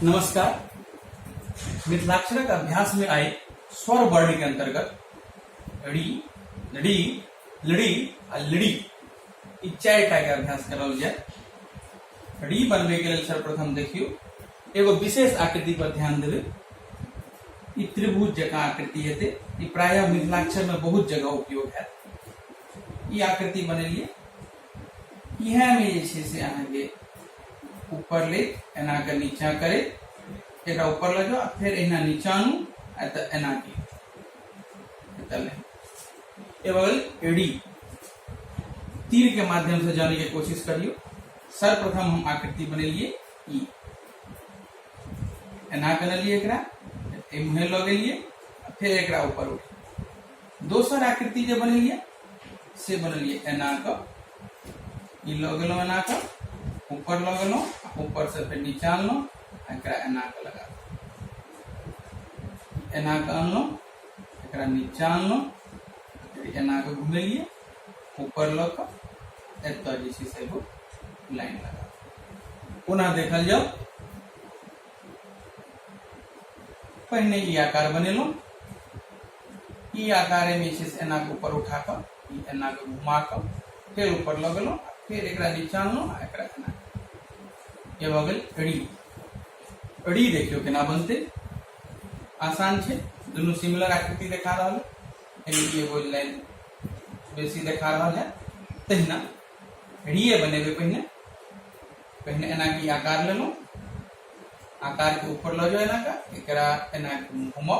नमस्कार मिथिलाक्षरक अभ्यास में आए स्वर वर्ण के अंतर्गत ड़ी लड़ी लड़ी आ लड़ी ई चारि टा के अभ्यास करल जाए ड़ी बनबे के लेल सर्वप्रथम देखियो एगो विशेष आकृति पर ध्यान देवे ई त्रिभुज जकाँ आकृति हेतै ई प्रायः मिथिलाक्षर में बहुत जगह उपयोग हैत ई आकृति बनेलिए इएह में जे से अहाँ के ऊपर ले एना के नीचा करे एक ऊपर ले जाओ फिर एना नीचा आनू आ तो एना के एडी तीर के माध्यम से जाने की कोशिश करियो सर्वप्रथम हम आकृति बनेलिए ई एना बनलिए एकरा एम्हे लऽ गेलिए फिर एकरा ऊपर उठ दोसर आकृति जे बनेलियै से बनेलियै एना कऽ ई लऽ गेलहुँ एना कऽ ऊपर लऽ गेलहुँ ऊपर से फेर नीचा अनलहुँ आ एकरा एना कऽ लगा एना कऽ अनलहुँ एकरा नीचा अनलहुँ फेर एना कऽ घुमेलियै ऊपर लऽ कऽ एतऽ जे छै से एगो लाइन लगा पुनः देखल जाओ पहिने ई आकार बनेलहुँ ई आकार में जे एना के ऊपर उठा कर ई एना के घुमा कर फिर ऊपर लग लो फिर एक नीचा लो एक एना ये भऽ गेल री री देखियो केना बनते आसान छे दोनों सिमिलर आकृति देखा रहा है यानी एगो लाइन बेसी देखा रहा है तहिना रीए बनेबे पहिने पहिने एना की आकार लेलहुँ आकार के ऊपर लऽ जाओ एना का एकरा एना घुमाओ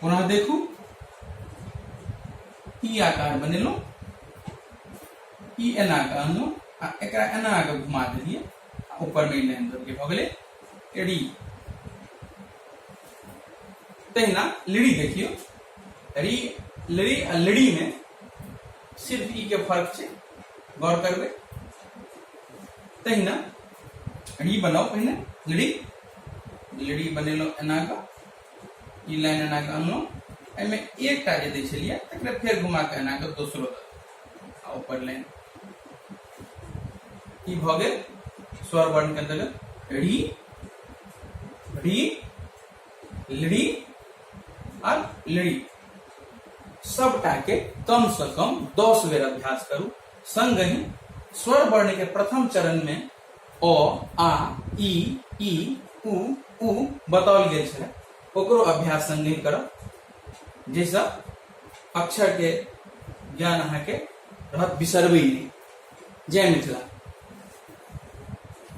पुनः देखू ई आकार बनेलहुँ ई एना कऽ अनलहुँ आ एकरा एना कऽ घुमा देलियै आ ऊपरमे ई लाइन दऽ भऽ गेलै एडी तहिना लिड़ी देखियो री लिड़ी आ लिड़ी में सिर्फ ई के फर्क छै गौर करबै तहिना री बनाओ पहिने लिड़ी लिड़ी बनेलहुँ एना कऽ ई लाइन एना के अनलहुँ एहिमे एकटा जे दै छलियै तकरा फेर घुमा के एना के दोसरो आ ऊपर लाइन ई भऽ गेल स्वर वर्ण के अंतर्गत री री लड़ी और लड़ी सबटा के कम से कम दस बेर अभ्यास करू संगहि स्वर वर्ण के प्रथम चरण में अ आ इ ई उ उ बताओल गए छलै ओकरो अभ्यास संगे करब जाहिसँ अक्षरके ज्ञान अहाँके रहत बिसरबै नहि जय मिथिला